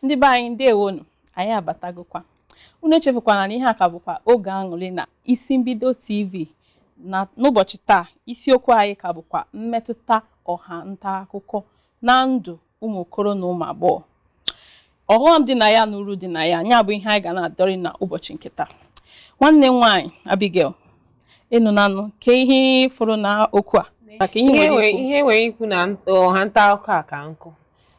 ndị be anyị ndewonu anyị abatagokwa unu echefukwana na ihe a ka bụkwa oge aṅụrị na Isi Mbido TV na n'ụbọchị taa isiokwu anyị ka bụkwa mmetụta ọha nta akụkọ na ndụ ụmụ okoro na ụmụ agbọghọ ọghọm dị na ya na uru dị na ya nya bụ ihe anyị ga na-adọrị na ụbọchị nke taa nwanne m nwaanyị Abigail ị nụnanụ kee ihe ị fụrụ na okwu a maka ihe m nwere ikwu na ọha nta akụkọ a ka nkụ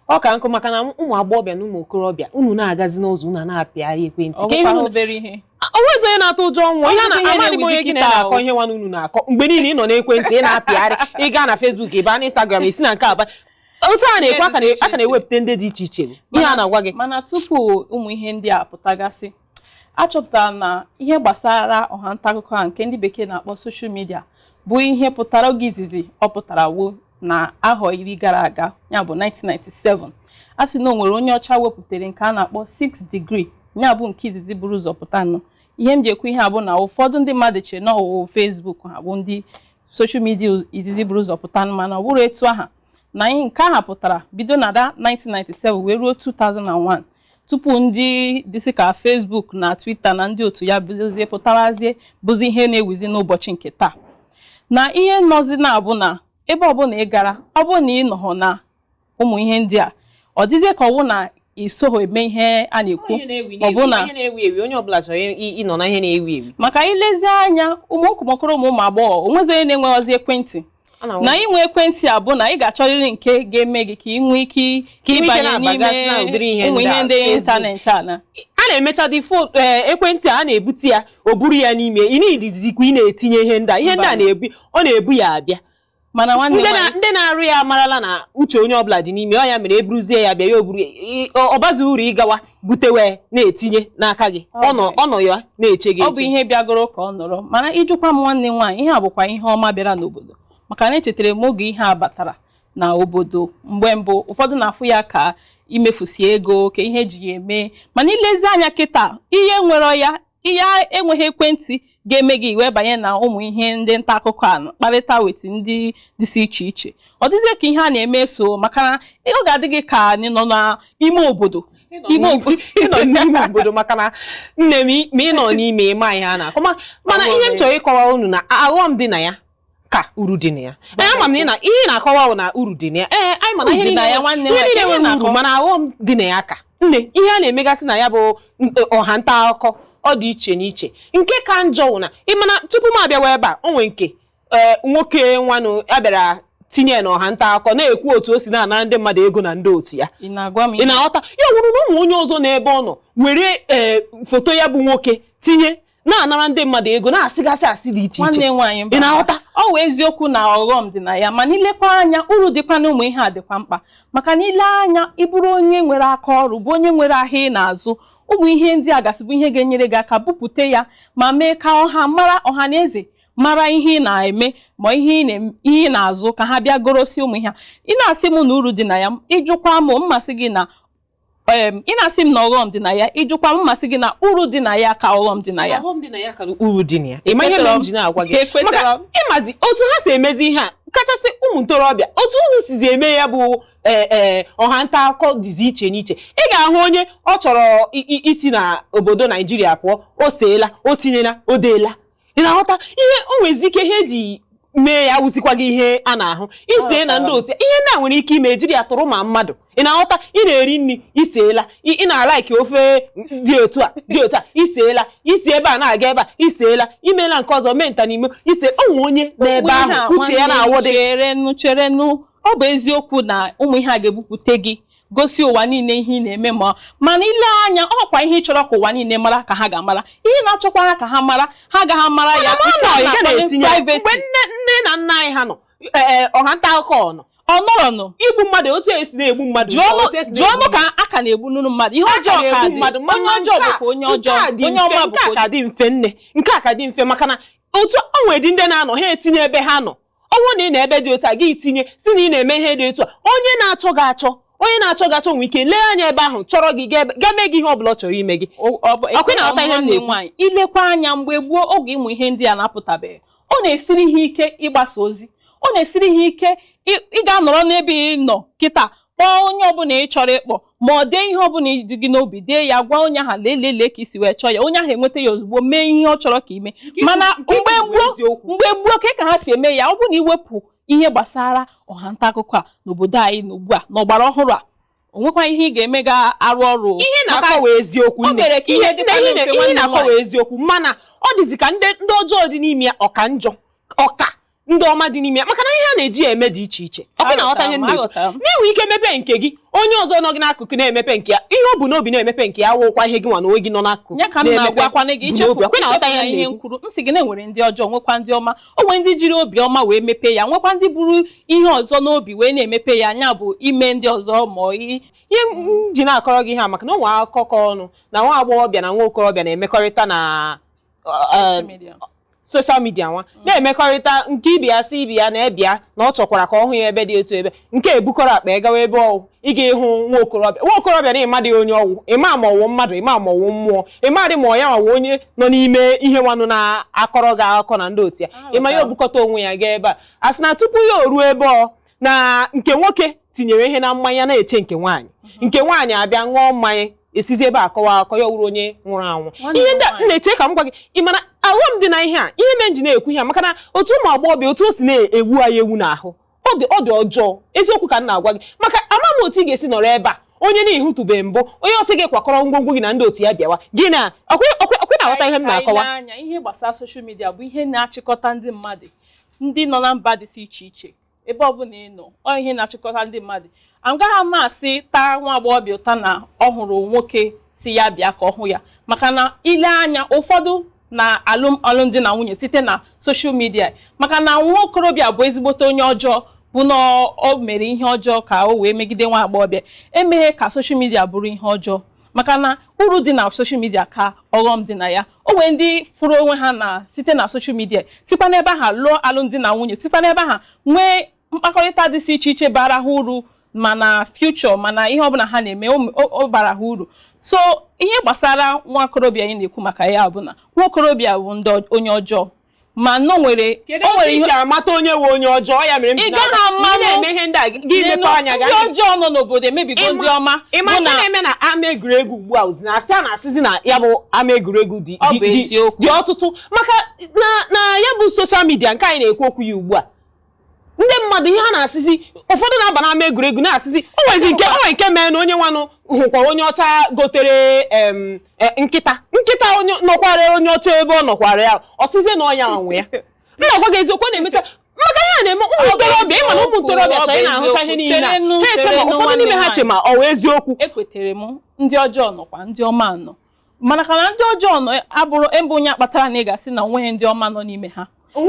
ọ ka nkụ maka na ụmụ agbọghọbịa na ụmụ okorobịa unu na-agazi n'ụzọ unu na-apịagharị ekwentị obere ihe o nwezi onye na-atụ ụjọ ọnwụ ihe na-amadị m onye gị na-akọ ihe nwa unu na-akọ mgbe niile ị nọ n'ekwentị ị na-apịgharị ị gaa na Facebook ị baa na Instagram i si na nke a baa otu a na-ekwu a ka na-ewepụta ndị dị iche iche ihe a na-agwa gị mana tupu ụmụ ihe ndị a pụtagasị a chọpụtara na ihe gbasara ọha nta akụkọ a nke ndị bekee na-akpọ social media bụ ihe pụtara oge izizi ọ pụtara wụ na ahọ iri gara aga ya bụ 1997 a sị na o nwere onye ọcha wepụtara nke a na-akpọ 6 degree ya bụ nke izizi buru ụzọ pụta nụ ihe m ji ekwu ihe a bụ na ụfọdụ ndị mmadụ chere na ọ wụ Facebook ha bụ ndị social media izizi buru ụzọ pụta nụ mana ọ bụrọ etu aha na nke aha pụtara bido na 1997 wee ruo 2001 tupu ndị dịsị ka Facebook na Twitter na ndị otu ya bịazie pụtawazie bụzi ihe na-ewuzi n'ụbọchị nke taa na ihe nọzi na-abụ na ebe ọbụla ị gara ọ bụrụ na ị nọhọ na ụmụ ihe ndị a ọ dịzie ka ọ wụ na i soho eme ihe a na-ekwu maọbụ na onye ọbụla chọrọ ịnọ na ihe na-ewu ewu maka i lezie anya ụmụ oko- ụmụ okoro ụmụ ụmụ agbọghọ o nwezi onye na-enweghịzi ekwentị na inwe ekwentị a bụ na ị ga-achọrịrị nke ga-eme gị ka ị nwee ike ịbanye n'ime ụmụ ihe ndị ịntanetị a na a na-emechadị eh, ekwentị a na-ebute ya o buru ya n'ime ị na-edizikwa ị na-etinye ihe ndị a ihe ndị a na-ebu ọ na-ebu ya abịa mana ndị na-arụ ya amarala na uche onye ọbụla dị n'ime ọ ya mere e buruzie ya bịa ya o buru ọ bazi uru ịgawa bute wee na-etinye n'aka gị ọ nọ ya na-eche gị ọ bụ ihe bịagoro ka ọ nọrọ mana ị jụkwa m nwanne m nwaanyị ihe a bụkwa ihe ọma bịara n'obodo maka na echetara m oge ihe a batara na obodo mgbe mbụ ụfọdụ na-afụ ya ka imefusi ego ka ihe e ji ya eme mana i lezie anya kịta ihe nwere ya ihe enweghị ekwentị ga-eme gị i wee banye na ụmụ ihe ndị nta akụkọ a kparịta wetu ndị dịsị iche iche ọ dịzie ka ihe a na-eme so maka na ọ ga-adị gị ka anyị nọ n'ime obodo ime ị nọ n'ime obodo maka na nne m ma ị nọ n'ime ị ma ihe a na-akọ mana ihe m chọrọ ịkọwa unu na aghọm dị na ya ka uru dị na ya ee ama m na ị na ihe ị na-akọwa bụ na uru dị na ya ee anyị ma na ihe Uru dị na niile- ya, nwanne m, ihe niile ihe nwere na-akọ. uru mana aghọm dị na ya ka nne ihe a na-emegasị na ya bụ n- ọha nta akụkọ ọ dị iche n'iche nke ka njọ wụ na ị ma na tupu m abịawa ebe a o nwere nke ee, nwoke nwanụ ya bịara tinye ya na ọha nta akụkọ na-ekwu otu o si na-ana ndị mmadụ ego na ndị otu ya ị na-agwa m ị na-aghọta ya wụrụ na ọ wụ onye ọzọ nọ ebe ọ nọ were ee, foto ya bụ nwoke tinye na-anara ndị mmadụ ego na-asịgasị asị dị iche iche ị na-aghọta ọ wụ eziokwu na ọghọm dị na ya mana i lekwa anya uru dịkwa na ụmụ ihe a dịkwa mkpa maka na i lee anya ị bụrụ onye nwere aka ọrụ bụ onye nwere ahịa ị na-azụ ụmụ ihe ndị a gasị bụ ihe ga-enyere gị aka bupute ya ma mee ka ọha mara ọha na eze mara ihe ị na-eme ma ihe ị na-azụ ka ha bịa gorosi ụmụ ihe ị na-asị m na uru dị na ya ị jụkwa m m asị gị na em ị na-asị m na ọghọm dị na ya ị jụkwa m m asị gị na uru dị na ya ka ọghọm dị na ya ọghọm dị na ya karịa uru dị na ya ị ma ihe mere m ji na-agwa gị Ekwetara maka m. ị mazi otu ha si emezi ihe a kachasị ụmụ ntorobịa otu unu sizi eme ya bụ ee ee ọha nta akụkọ dịzi iche n'iche ị ga-ahụ onye ọ chọrọ i- i- isi na obodo naijiria pụọ o seela o tinyela o deela ị na-aghọta ihe o nwezi ike ihe e ji mee ya wụzikwa gị ihe a na-ahụ i see na ndị otu ihe ndị a nwere ike ime e jiri ya tọrọ ma mmadụ ị na-aghọta ị na-eri nri i seela ị na-alaiki ofe dị otu a dị otu a i seela i si ebe a na-aga ebe a i seela i meela nke ọzọ mee nta n'imo i see o nwee onye nọ ebe ahụ uche ya na-awụdị cherenụ ọ bụ eziokwu na ụmụ ihe a ga-ebupute gị gosi ụwa niile ihe ị na-eme ma mana i lee anya ọ kwa ihe ị chọrọ ka ụwa niile mara ka ha ga-amara ihe ị na-achọkwara ka ha mara ha agaghị amara ya Mana nke a ọ nọ, ị gaghị na-akpọ etinye ya. privacy. mgbe nne nne na nna anyị ha nọ ee, ọha nta akụkọ ọ nọ ọ nọrọnụ igbu mmadụ otu esi na-egbu mmadụ jụọnụ otu esi jụọnụ na-egbu ka a ka na-egbunụnụ mmadụ ihe ọjọọ ka na-egbu dị mmadụ onye mana ọjọọ nke a- bụkwa onye nke ọjọọ a dị onye mfe, ọma nke a bụkwa ka dị mfe nne nke a ka dị mfe maka na otu o nweredị ndị na-anọ ha etinye ebe ha nọ ọ bụrụ na ị nọ ebe dị otu a gị tinye si na ị na-eme ihe dị otu a onye na-achọ gị achọ onye na-achọ gị achọ nwee ike lee anya ebe ahụ chọrọ gị ga ebe- gaa mee gị ihe ọ bụla ọ chọrọ ime gị Ọkwa ị na-aghọta ihe m na-ekwu? nwaanyị i lekwa anya mgbe gboo oge ụmụ ihe ndị a na-apụtabeghị ọ na-esiri ha ike ịgbasa ozi ọ na-esiri ha ike ị- ị ga-anọrọ n'ebe ị nọ kịta kpọọ onye ọbụla ị chọrọ ịkpọ ma ọ dee ihe ọbụla dị gị n'obi dee ya gwa onye ahụ lee lee lee ka i si wee chọọ ya onye ahụ enweta ya ozugbo mee ihe ọ chọrọ ka i mee mana mgbe gboo mgbe gboo ka ka ha si eme ya ọ bụrụ na i wepụ ihe gbasara ọha nta akụkọ a n'obodo anyị n'ugbu a n'ọgbara ọhụrụ a o nwekwa ihe ị ga-eme ga-arụ ọrụ ihe ị na-akọ wụ eziokwu nne ihe ị na-akọ wụ eziokwu mana ọ dịzi ka ndị ọjọọ dị n'ime ya ọ ka njọ ọ ka ndị ọma dị n'ime ya maka na ihe a na-eji ya eme dị iche iche ọkwa ị na-aghọta ihe m na-ekwu Aghọtara m. na i nwere ike mepe nke gị onye ọzọ nọ gị n'akụkụ na-emepe nke ya ihe o bu n'obi na-emepe nke ya wụkwa ihe gị nwa na onwe gị nọ n'akụkụ ya ka m na-emepe na-agwakwana gị bu ichefu n'obi. Ọkwa ị na-aghọta ichefu na ihe m ihe m na-ekwu. kwuru m sị gị na e nwere ndị ọjọọ nwekwa ndị ọma o nwere ndị jiri obi ọma wee mepee ya nwekwa ndị buru ihe ọzọ n'obi wee na-emepe ya anya bụ ime ndị ọzọ ma ọ i- ihe m ji na-akọrọ gị ihe a maka na o nwere akụkọ ọnụ na nwa agbọghọbịa na nwa okorobịa na-emekọrịta na soshal midia nwa mm. na-emekọrịta nke ibe ya sị ibe ya na ya bịa na ọ chọkwara ka ọ hụ ya ebe dị otu ebe nke a ebukọrọ akpa ya gawa ebe ọ wụ ịga ịhụ nwa okorobịa nwa okorobịa na ị madị onye ọ wụ ị ma ma ọ wụ mmadụ ị ma ma ọ wụ mmụọ ị madị ma ọ ya nwa wụ onye nọ n'ime ihe nwanụ na-akọrọ gị akụkọ na ndị otu ya ah, ị ma ya o bukọta onwe ya gaa ebe a a sị na tupu ya o ruo ebe ọ na nke nwoke tinyere ihe na mmanya na-eche nke nwaanyị mhm. nke nwaanyị abịa ṅụọ mmanya e sizi ebe a kọwa akọ ya wuru onye nwụrụ anwụ ihe ndị na-eche ka m gwa gị ị ma na ọghọm dị na ihe a ihe mere m ji na-ekwu ihe maka na otu ụmụ agbọghọbịa otu o si na-ewu anyị ewu n'ahụ ọ dị ọ dị ọjọọ eziokwu ka m na-agwa gị maka ama m otu ị ga-esi nọrọ ebe a onye na ị hụtụbe mbụ onye ọ sị gị kwakọrọ ngwongwo gị na ndị otu ya bịawa gị na ọkwa ị na-aghọta ihe m na-akọwa ihe gbasara soshal midia bụ ihe na-achịkọta ndị mmadụ ndị nọ na mba dịsị iche iche ebe ọbụla ị nọ ọ ihe na-achịkọta ndị mmadụ agaghị ama asị taa nwa agbọghọbịa ụta na ọ hụrụ nwoke sị ya bịa ka ọ hụ ya maka na i lee anya ụfọdụ na-alụ alụmdi na nwunye site na soshal midia maka na nwa okorobịa bụ ezigbote onye ọjọọ bụ na o mere ihe ọjọọ ka o wee megide nwa agbọghọbịa emeghị ka soshal midia bụrụ ihe ọjọọ maka na uru dị na soshal midia ka ọghọm dị na ya o nwere ndị fụrụ onwe ha na site na soshal midia sikwa n'ebe aha lụọ alụmdi na nwunye sikwa n'ebe aha nwee mkpakọrịta dịsị iche iche bara ha uru ma na future ma na ihe ọbụla ha na-eme ọ bara ha uru so ihe gbasara nwa okorobịa anyị na-ekwu maka ya bụ na nwa okorobịa bụnụ onye ọjọọ mana o nwere kedu o nwere otu i ihe si amata onye wụ onye ọjọọ ya mere m Ị ji gaghị na- ama ị na-eme ihe ndị a gị N'elu, mepe anya ndị gị ọjọọ nọ n'obodo emebigo Ịma- ndị ọma ị ma bụ ihe na na-eme na ama egwuregwu ugbu a ozi na asị a na-asịzi na ya bụ ama egwuregwu dị Ọ dị- bụ dị- eziokwu. dị ọtụtụ maka na na ya bụ soshal midia nke anyị na-ekwu okwu ya ugbu a ndị mmadụ ihe ha na-asịzi ụfọdụ na-aba n'ama egwuregwu na-asịzi o nwezi nke o nwere nke meenụ onye nwanụ hụkwara onye ọcha gotere em, e, nkịta nkịta onye nọkwara onye ọcha ebe ọ nọkwara ya ọ sịzie na ọ ya nwe ya m na-agwa gị eziokwu ọ na-emecha maka ihe a na-eme ụmụ ntorobịa ị ma na ụmụ ntorobịa chọrọ ị na-ahụcha ihe niile a. Cherenụ, ha eche ma cherenụ ụfọdụ n'ime ha nwanne che ma ọ wụ eziokwu ekwetere m ndị ọjọọ nọkwa ndị ọma nọ mana ka na ndị ọjọọ nọ abụrọ ebe onye akpatara na ị ga-asị na o nweghị ndị ọma nọ n'ime ha o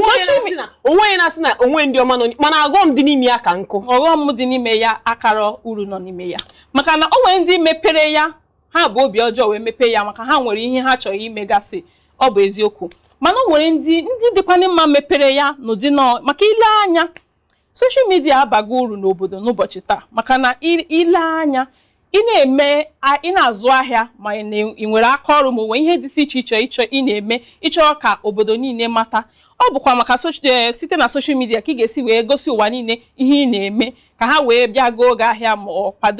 nweghị na-asị na o nweghị ndị ọma nọ mana ọghọm dị n'ime ya ka nnukwu ọghọm dị n'ime ya akara uru nọ n'ime ya maka na o nwere ndị mepere ya ha bu obi ọjọọ wee mepee ya maka ha nwere ihe ha chọrọ imegasị ọ bụ eziokwu mana o nwere ndị dịkwanụ mma mepere ya n'ụdị nọọ maka ile anya soshal midia abago uru n'obodo n'ụbọchị taa maka na ile anya ị na-eme ị na-azụ ahịa ma ị nwere aka ọrụ ma o nwe ihe dị iche iche ị chọ ị na-eme ị chọrọ ka obodo niile mata ọ bụkwa maka eh, site na soshal midia ka ị ga-esi wee gosi ụwa niile ihe ị na-eme ka ha wee bịa goo gị ahịa ma ọ kwado